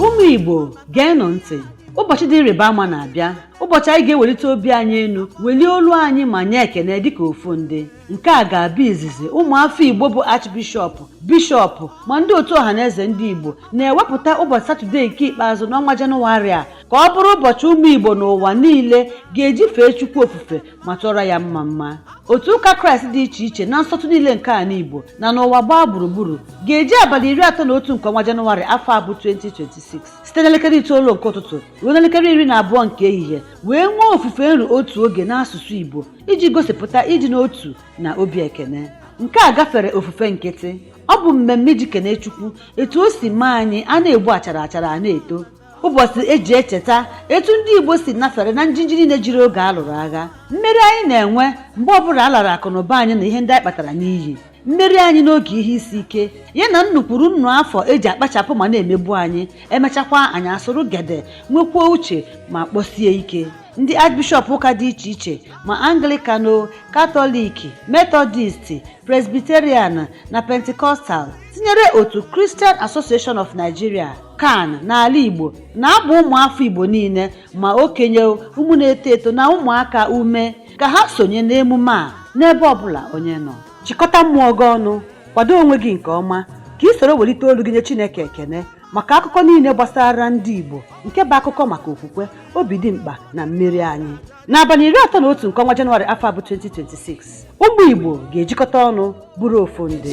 ụmụ igbo geenụ ntị ụbọchị dị ịrịba ama na-abịa ụbọchị anyị ga-ewelite obi anyị elu welie olu anyị ma nye ekene dịka ofu ndị nke a ga-abụ izizi ụmụafọ igbo bụ archbishọp bishọp ma ndị otu ọhaneze ndị igbo na-ewepụta ụbọchị satọde nke ikpeazụ n'ọnwa jenụwarị a ka ọ bụrụ ụbọchị ụmụ igbo n'ụwa niile ga-eji fee chukwu ofufe ma tụọrọ ya mma mma otu ụka kraịst dị iche iche na nsọtụ niile nke ala igbo na n'ụwa gbaa gburugburu ga-eji abalị iri atọ na otu nke ọnwa janụwarị afọ a bụ 2026 site n'elekere itoolu nke ụtụtụ ruo n'elekere iri na abụọ nke ehihie wee nwee ofufe nru otu oge n'asụsụ igbo iji gosipụta ịdị n'otu na obi ekene nke a gafere ofufe nkịtị ọ bụ mmemme iji kene chukwu etu o si mee anyị a na-egbu achara achara a na-eto ụbọchị e ji echeta etu ndị igbo si nafere na njinji niile jiri oge a lụrụ agha mmeri anyị na-enwe mgbe ọbụla a lara akụnụba anyị na ihe ndị anyị kpatara n'iyi mmeri anyị n'oge ihe isi ike ya na nnụ kwuru nnụ afọ e ji akpachapụ ma na-emegbu anyị e mechakwa anyị asụrụ gede nwekwuo uche ma kpọsie ike ndị archbishọp ụka dị iche iche ma anglikano katọlik metọdist presbiterian na pentikọstal tinyere otu christian association of nigeria can n'ala igbo na-agba ụmụafọ igbo niile ma okenye ụmụ na-eto eto na ụmụaka ume ka ha sonye n'emume a n'ebe ọbụla onye nọ chịkọta mmụọ gị ọnụ kwado onwe gị nke ọma ka i soro welite olu gị nye chineke ekene maka akụkọ niile gbasara ndị igbo nke bụ akụkọ maka okwukwe obi dimkpa na mmeri anyị n'abalị iri atọ na otu nke ọnwa jenụwarị afọ a bụ 2026 ụmụ igbo ga-ejikọta ọnụ bụrụ ofu ndị